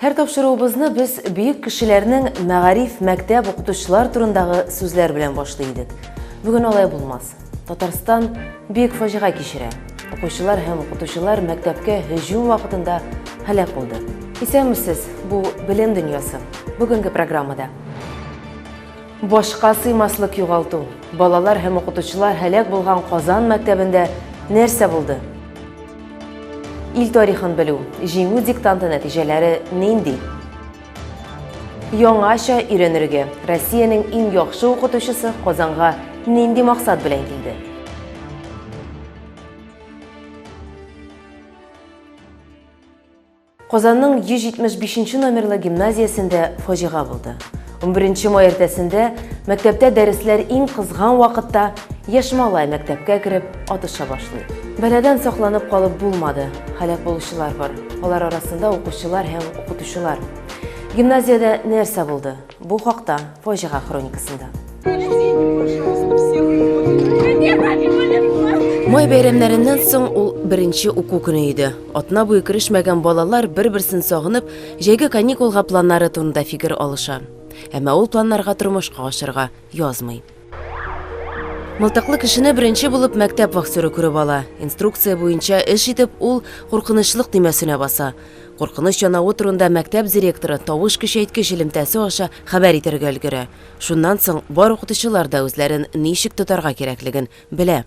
Һәр тапшыруыбызны без бөек кешеләрнең мәгариф, мәктәп, укытучылар турындагы сүзләр белән башлый идек. Бүген алай булмас. Татарстан бөек фаҗига кичерә. Укучылар һәм укытучылар мәктәпкә һөҗүм вакытында һәлак булды. Исәнмесез, бу белем дөньясы. Бүгенге программада Башка сыймаслык югалту. Балалар һәм укытучылар һәлак булган Казан мәктәбендә нәрсә булды? Ил тарихын белү, җиңү диктанты нәтиҗәләре нинди? Яңача өйрәнергә Россиянең иң яхшы укытучысы Казанга нинди максат белән килде? Казанның 175 нче номерлы гимназиясендә фаҗига булды. Унберенче май иртәсендә мәктәптә дәресләр иң кызган вакытта яшь малай мәктәпкә кереп атыша башлый. Бәладән сакланып калып булмады, һәлак булучылар бар, алар арасында укучылар һәм укытучылар. Гимназиядә нәрсә булды? Бу хакта фаҗига хроникасында. Май бәйрәмнәреннән соң ул беренче уку көне иде. Атна буе керешмәгән балалар бер-берсен сагынып, җәйге каникулга планнары турында фикер алыша. Әмма ул планнарга тормышка ашырга язмый. Мылтыклы кешене беренче булып мәктәп вахтеры күреп ала. Инструкция буенча эш итеп, ул куркынычлык төймәсенә баса. Куркыныч янавы турында мәктәп директоры тавыш көчәйткеч элемтәсе аша хәбәр итәргә өлгерә. Шуннан соң бар укытучылар да үзләрен ничек тотарга кирәклеген белә.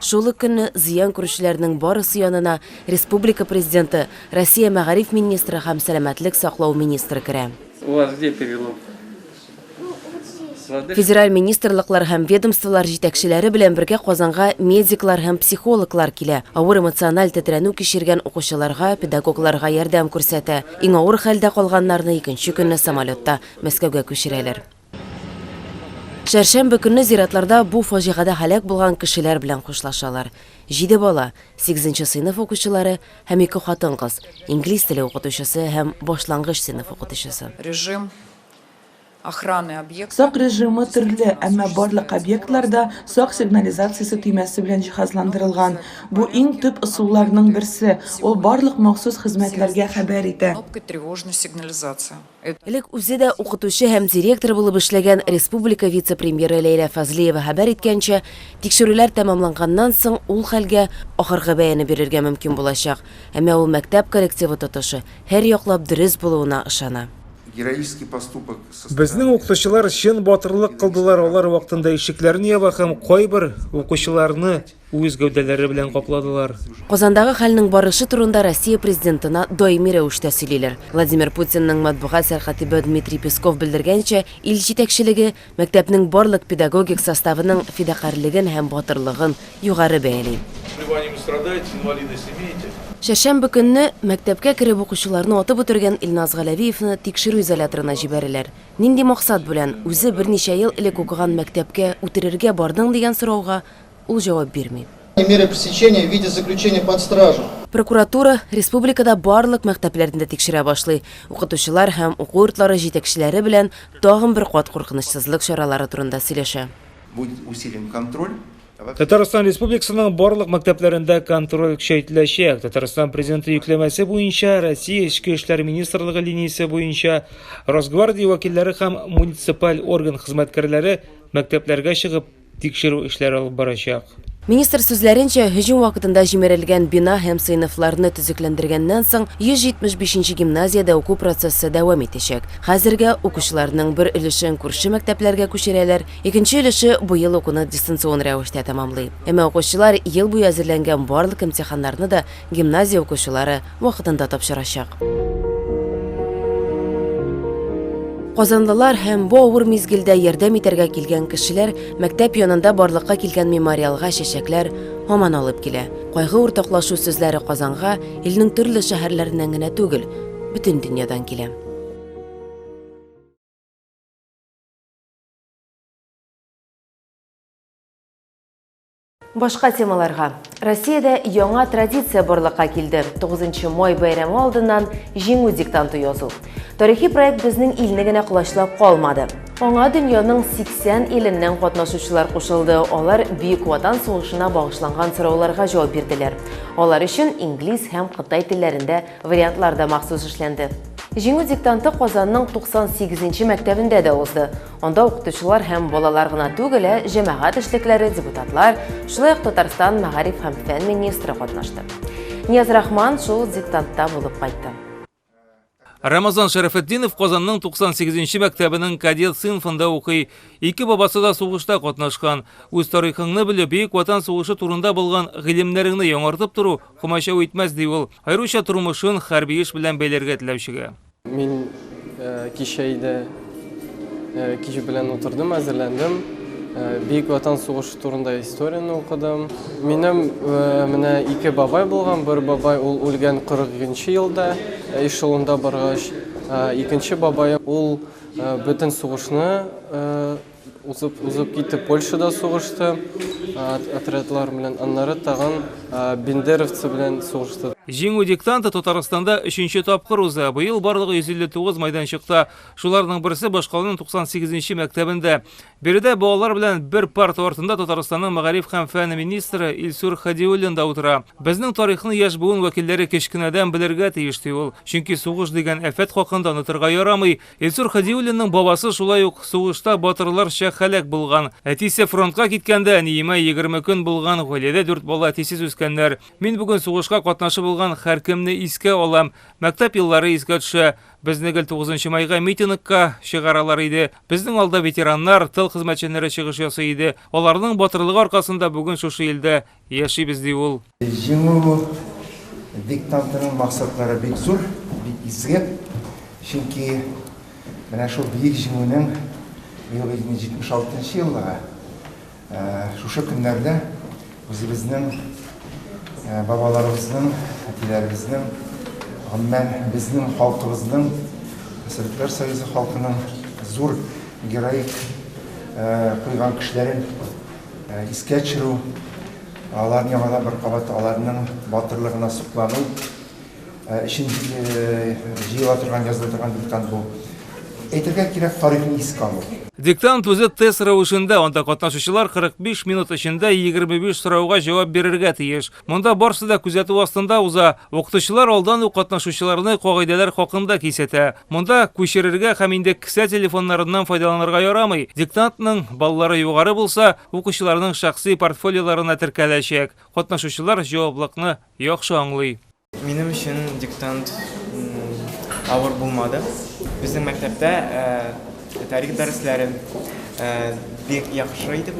Шул ук көнне зыян күрүчеләрнең барысы янына республика Президенты, Россия мәгариф министры һәм сәламәтлек саклау министры керә. Федераль министрлыклар һәм ведомстволар җитәкчеләре белән бергә Казанга медиклар һәм психологлар килә, авыр эмоциональ тетрәнү кичергән укучыларга, педагогларга ярдәм күрсәтә. Иң авыр хәлдә калганнарны икенче көнне самолетта Мәскәүгә күчерәләр. Чәршәмбе көнне зиратларда бу фаҗигадә һәлак булган кешеләр белән хушлашалар. Җиде бала, сигезенче сыйныф укучылары һәм ике хатын-кыз, инглиз теле укытучысы һәм башлангыч сыйныф укытучысы. Режим охраны объекта. Сак режимы төрле, әмма барлык объектлар да сак сигнализациясе төймәсе белән җиһазландырылган. Бу иң төп ысулларның берсе, ул барлык махсус хезмәтләргә хәбәр итә. Кнопка тревожной сигнализации. Элек үзе дә укытучы һәм директор булып эшләгән республика вице-премьеры Ләйлә Фазлиева хәбәр иткәнчә, тикшерүләр тәмамланганнан соң ул хәлгә ахыргы бәяне бирергә мөмкин булачак. Әмма ул мәктәп коллективы тотышы һәр яклап дөрес булуына ышана. Безнең укытучылар чын батырлык кылдылар, алар вакытында ишекләрен яба һәм кайбер укучыларны Үз гәүдәләре белән капладылар. Казандагы хәлнең барышы турында Россия президентына даими рәвештә сөйлиләр. Владимир Путинның матбугат сәркатибы Дмитрий Песков белдергәнчә, ил җитәкчелеге мәктәпнең барлык педагогик составының фидакарьлеген һәм батырлыгын югары бәяли. Чәршәмбе көнне мәктәпкә кереп укучыларны атып үтергән Илназ Галәвиевны тикшерү изоляторына җибәрәләр. Нинди максат белән, үзе берничә ел элек укыган мәктәпкә үтерергә бардың дигән сорауга, Ул җавап бирми. Меры пресечения в виде заключения под стражу. Прокуратура республикада барлык мәктәпләрне дә тикшерә башлый. Укытучылар һәм уку йортлары җитәкчеләре белән тагын бер кат куркынычсызлык чаралары турында сөйләшә. Будет усилен контроль. Татарстан Республикасының барлык мәктәпләрендә контроль көчәйтеләчәк. Татарстан Президенты йөкләмәсе буенча Россия Эчке эшләр министрлыгы линиясе буенча Росгвардия вәкилләре һәм муниципаль орган хезмәткәрләре мәктәпләргә чыгып, тикшерү эшләре алып барачак. Министр сүзләренчә, һөҗүм вакытында җимерелгән бина һәм сыйныфларны төзекләндергәннән соң, 175 нче гимназиядә уку процессы дәвам итәчәк. Хәзергә укучыларның бер өлешен күрше мәктәпләргә күчерәләр, икенче өлеше быел укуны дистанцион рәвештә тәмамлый. Әмма укучылар ел буе әзерләнгән барлык имтиханнарны да гимназия укучылары вакытында тапшырачак. Казанлылар һәм бу авыр мизгелдә ярдәм итәргә килгән кешеләр мәктәп янында барлыкка килгән мемориалга чәчәкләр һаман алып килә. Кайгы уртаклашу сүзләре Казанга илнең төрле шәһәрләреннән генә түгел, бөтен дөньядан килә. Башка темаларга. Россиядә яңа традиция барлыкка килде, 9 май бәйрәме алдыннан Җиңү диктанты язу. Тарихи проект безнең илне генә колачлап калмады. Аңа дөньяның 80 иленнән катнашучылар кушылды, алар Бөек Ватан сугышына багышланган сорауларга җавап бирделәр. Алар өчен инглиз һәм кытай телләрендә вариантлар да махсус эшләнде. Җиңү диктанты Казанның 98 нче мәктәбендә дә узды. Анда укытучылар һәм балалар гына түгел, ә җәмәгать эшлекләре, депутатлар, шулай ук Татарстан мәгариф һәм фән министры катнашты. Нияз Рахман шул диктантта булып кайтты. Рамазан Шәрәфетдинов Казанның 98-нче мәктәбенең кадет сыйнфында укый. Ике бабасы да сугышта катнашкан. Үз тарихыңны белеп, Бөек Ватан сугышы турында булган гыйлемнәреңне яңартып тору комачау итмәс, ди ул, аеруча тормышын хәрби эш белән бәйләргә теләүчегә. Мин кичә иде кич белән утырдым, әзерләндем. Бөек Ватан сугышы турында историяне укыдым. Минем менә ике бабай булган, бер бабай ул үлгән 42 елда эшелонда баргач, икенче бабай ул бөтен сугышны Узып, узып китеп Польшада сугышты отрядлар белән, аннары тагын бендеровцы белән сугышты. Җиңү диктанты Татарстанда өченче тапкыр уза. Быел барлыгы 159 майданчыкта, шуларның берсе башкаланың 98 нче мәктәбендә. Биредә балалар белән бер парта артында Татарстанның мәгариф һәм фән министры Илсур Хадиуллин да утыра. Безнең тарихны яшь буын вәкилләре кечкенәдән белергә тиеш, ди ул. Чөнки сугыш дигән афәт хакында онытырга ярамый, Илсур Хадиуллинның бабасы шулай ук сугышта батырларча һәлак булган. Әтисе фронтка киткәндә, әниемә 20 көн булган, гаиләдә дүрт бала әтисез үскәннәр. Мин бүген сугышка катнашып булган һәркемне искә алам. Мәктәп еллары искә төшә. Безне гел 9 майга митингка чыгаралар иде. Безнең алда ветераннар, тыл хезмәтчәннәре чыгыш ясый иде. Аларның батырлыгы аркасында бүген шушы илдә яшибез, ди ул. Җиңү диктантының максатлары бик зур, бик изге. Чөнки менә шул Бөек Җиңүнең юбилейный 76 нчы еллыгы шушы көннәрдә үзебезнең бабаларыбызның, әтиләребезнең, гомумән, безнең халкыбызның, Советлар Союзы халкының зур героик куйган көчләрен Искә төшерү, алар яңадан бер кабат аларның батырлыгына соклану өчен җыела торган, языла торган диктант бу. Әйтергә кирәк, тарихны искә алу. Диктант үзе тест рәвешендә, анда катнашучылар 45 минут эчендә 25 сорауга җавап бирергә тиеш. Монда барсы да күзәтү астында уза. Укытучылар алдан ук катнашучыларны кагыйдәләр хакында кисәтә. Монда күчерергә һәм инде кесә телефоннарыннан файдаланырга ярамый. Диктантның баллары югары булса, укучыларның шәхси портфолиоларына теркәләчәк. Катнашучылар җаваплыкны яхшы аңлый. Минем өчен диктант авыр булмады. Безнең мәктәптә тарих дәресләре бик яхшы итеп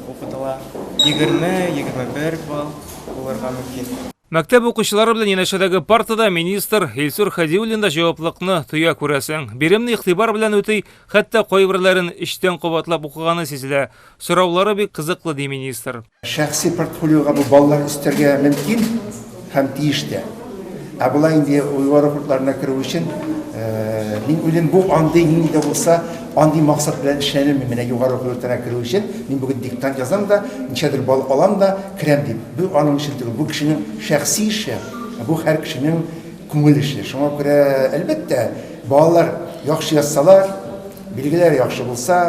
укытыла. Егерме, егерме бер балл булырга мөмкин. Мәктәп укучылары белән янәшәдәге партада министр Илсур Хәдиуллин да җаваплылыкны тоя күрәсең. Биремне игътибар белән үти, хәтта кайберләрен эчтән кабатлап укыганы сизелә. Сораулары бик кызыклы, ди министр. Шәхси портфолиога бу баллар өстәргә мөмкин һәм тиеш тә. Ә болай инде югары курсларына керү өчен, мин уйлыйм, бу андый, нинди дә булса, андый максат белән эшләнелми. Менә югары уку йортына керү өчен мин бүген диктант язам да, ничәдер балл алам да керәм дип. Бу аның эше түгел, бу кешенең шәхси эше, ә бу һәр кешенең күңел эше. Шуңа күрә, әлбәттә, балалар яхшы язсалар, билгеләре яхшы булса,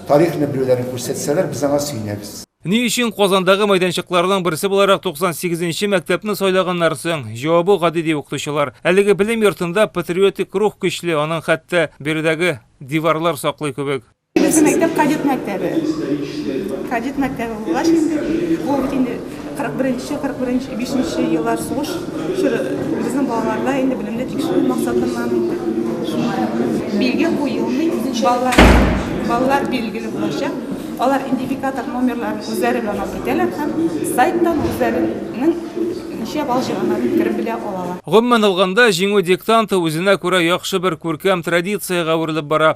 тарихны белүләрен күрсәтсәләр, без аңа сөенәбез. Ни өчен Казандагы мәйданчыкларның берсе буларак 98 нче мәктәпне сайлаганнар соң? Җавабы гади, ди укытучылар. Әлеге белем йортында патриотик рух көчле, аның хәтта биредәге диварлар саклый кебек. Беренче мәктәп кадет мәктәбе. Кадет мәктәбе булгач инде, ул бит инде 41-нче, 41-нче, 5-нче еллар сугыш чоры безнең балаларда инде белемне тикшерү максатыннан инде шулай. Билге куелмый, балалар, балалар билгеле булачак. Алар идентификатор номерларын үзләре белән алып китәләр һәм сайттан үзләренең ничә балл җыйганнарын кереп белә алалар. Гомумән алганда, Җиңү диктанты үзенә күрә яхшы бер күркәм традициягә әверелеп бара.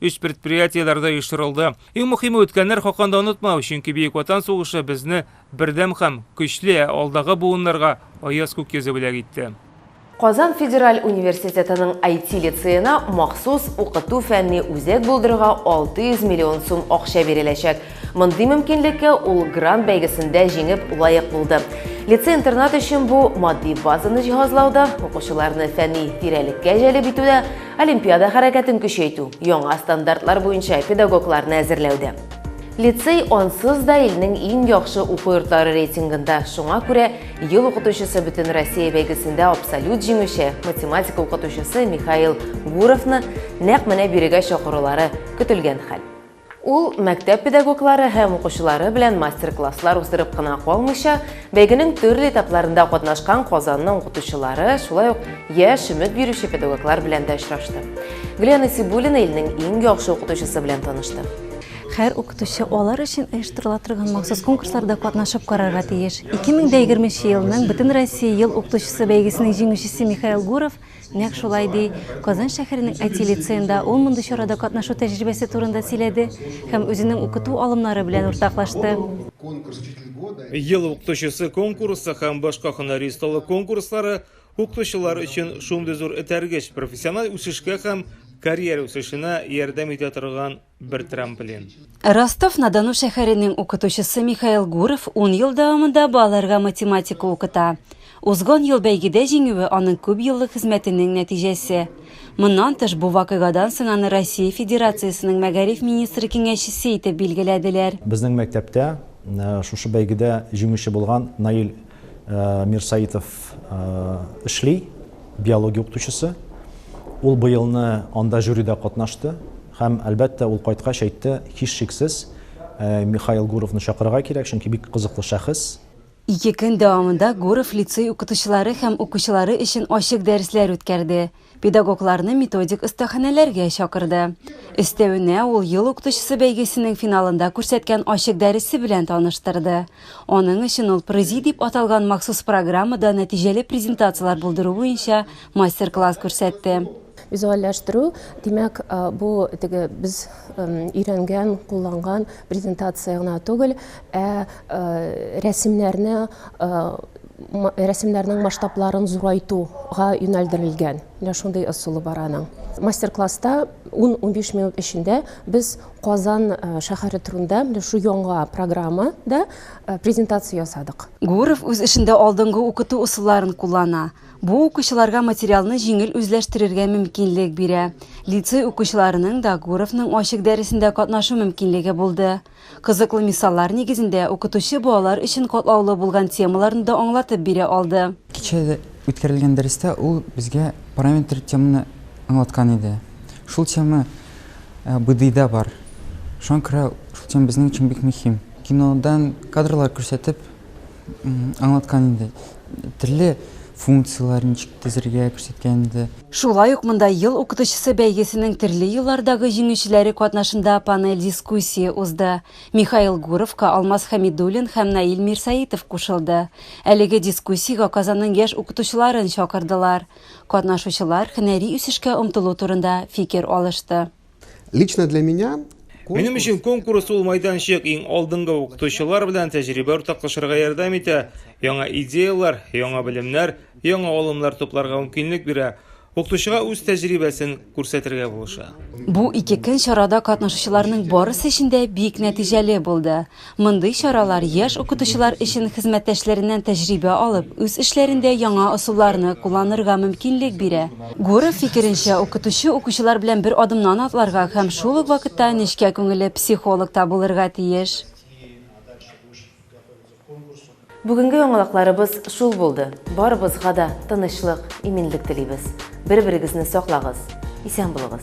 Өч предприятиеләр дә оештырылды. Иң мөхиме үткәннәр хакында онытмау, чөнки Бөек Ватан сугышы безне бердәм хәм көчле, ә алдагы буыннарга аяз күк йөзе бүләк итте. Казан федераль университетының IT лицеена махсус укыту-фәнни үзәк булдырырга 600 миллион сум акча биреләчәк. Мондый мөмкинлеккә ул грант бәйгесендә җиңеп лаек булды. Лицей-интернат өчен бу, матди базаны җиһазлауда, укучыларны фәнни тирәлеккә җәлеп итүдә, Олимпиада хәрәкәтен көчәйтү, яңа стандартлар буенча педагогларны әзерләүдә. Лицей ансыз да илнең иң яхшы уку йортлары рейтингында, шуңа күрә Ел укытучысы Бөтенроссия бәйгесендә абсолют җиңүче, математика укытучысы Михаил Гуровны нәкъ менә бирегә чакырулары көтелгән хәл. Ул мәктәп педагоглары һәм укучылары белән мастер-класслар уздырып кына калмыйча, бәйгенең төрле этапларында катнашкан Казанның укытучылары, шулай ук яшь өмет бирүче педагоглар белән дә очрашты. Гөлия Насибуллина илнең иң яхшы укытучысы белән танышты. Һәр укытучы алар өчен оештырыла торган махсус конкурсларда катнашып карарга тиеш. 2020 елның Бөтенроссия ел укытучысы бәйгесенең җиңүчесе Михаил Гуров Нәкъ шулай, ди. Казан шәһәренең IT лицеенда ул мондый чарада катнашу тәҗрибәсе турында сөйләде һәм үзенең укыту алымнары белән уртаклашты. Ел укытучысы конкурсы һәм башка һөнәри осталык конкурслары укытучылар өчен шундый зур этәргеч, профессиональ үсешкә һәм карьера үсешенә ярдәм итә торган бер трамплин. Ростов-на-Дону шәһәренең укытучысы Михаил Гуров ун ел дәвамында балаларга математика укыта. Узган ел бәйгедә җиңүе аның күп еллык хезмәтенең нәтиҗәсе. Моннан тыш, бу вакыйгадан соң аны Россия Федерациясенең мәгариф министры киңәшчесе итеп билгеләделәр. Безнең мәктәптә шушы бәйгедә җиңүче булган Наил Э, Мир Саитов э, эшли, биология укытучысы. Ул быелны анда жюрида катнашты һәм әлбәттә ул кайткач әйтте, һичшиксез э, Михаил Гуровны чакырырга кирәк, чөнки бик кызыклы шәхес. Ике көн дәвамында Гуров лицей укытучылары һәм укучылары өчен ачык дәресләр үткәрде. педагогларны методик остаханәләргә чакырды. Өстәвенә, ул Ел укытучысы бәйгесенең финалында күрсәткән ачык дәресе белән таныштырды. Аның өчен ул ПРЗИ дип аталган махсус программада нәтиҗәле презентацияләр булдыру буенча мастер-класс күрсәтте. Визуальләштерү, димәк, бу теге без өйрәнгән, кулланган презентация гына түгел, ә рәсемнәрне рәсемнәрнең масштабларын зурайтуга юнәлдерелгән менә шундый ысулы бар аның мастер класста 10-15 минут эчендә без казан э, шәһәре турында менә шу яңа программада э, презентация ясадык гуров үз эшендә алдынгы укыту ысулларын куллана бу укучыларга материалны җиңел үзләштерергә мөмкинлек бирә лицей укучыларының да гуровның ачык дәресендә катнашу мөмкинлеге булды Кызыклы мисаллар нигезендә укытучы балалар өчен катлаулы булган темаларны да аңлатып бирә алды. Кичәдә үткәрелгән дәрестә ул безгә параметр теманы аңлаткан иде. Шул тема БДИда бар. Шуңа күрә шул тема безнең өчен бик мөһим. Кинодан кадрлар күрсәтеп, Аңлаткан инде. Төрле функцияләр ничек төзергә күрсәткән инде. Шулай ук монда Ел укытучысы бәйгесенең төрле еллардагы җиңүчеләре катнашында панель дискуссия узды. Михаил Гуровка Алмаз Хәмидуллин һәм Наил Мирсәетов кушылды. Әлеге дискуссиягә Казанның яшь укытучыларын чакырдылар. Катнашучылар һөнәри үсешкә омтылу турында фикер алышты. Лично для меня Минем өчен конкурс ул майданчык, иң алдынгы укытучылар белән тәҗрибә уртаклашырга ярдәм итә, яңа идеяләр, яңа белемнәр, яңа алымнар тупларга мөмкинлек бирә, укытучыга үз тәҗрибәсен күрсәтергә булыша. Бу ике көн чарада катнашучыларның барысы өчен дә бик нәтиҗәле булды. Мондый чаралар яшь укытучылар өчен хезмәттәшләреннән тәҗрибә алып, үз эшләрендә яңа ысулларны кулланырга мөмкинлек бирә. Гуров фикеренчә, укытучы укучылар белән бер адымнан атларга һәм шул ук вакытта нечкә күңелле психолог та булырга тиеш. Бүгенге яңалыкларыбыз шул булды. Барыбызга да тынычлык, иминлек телибез. Бер-берегезне саклагыз. Исән булыгыз.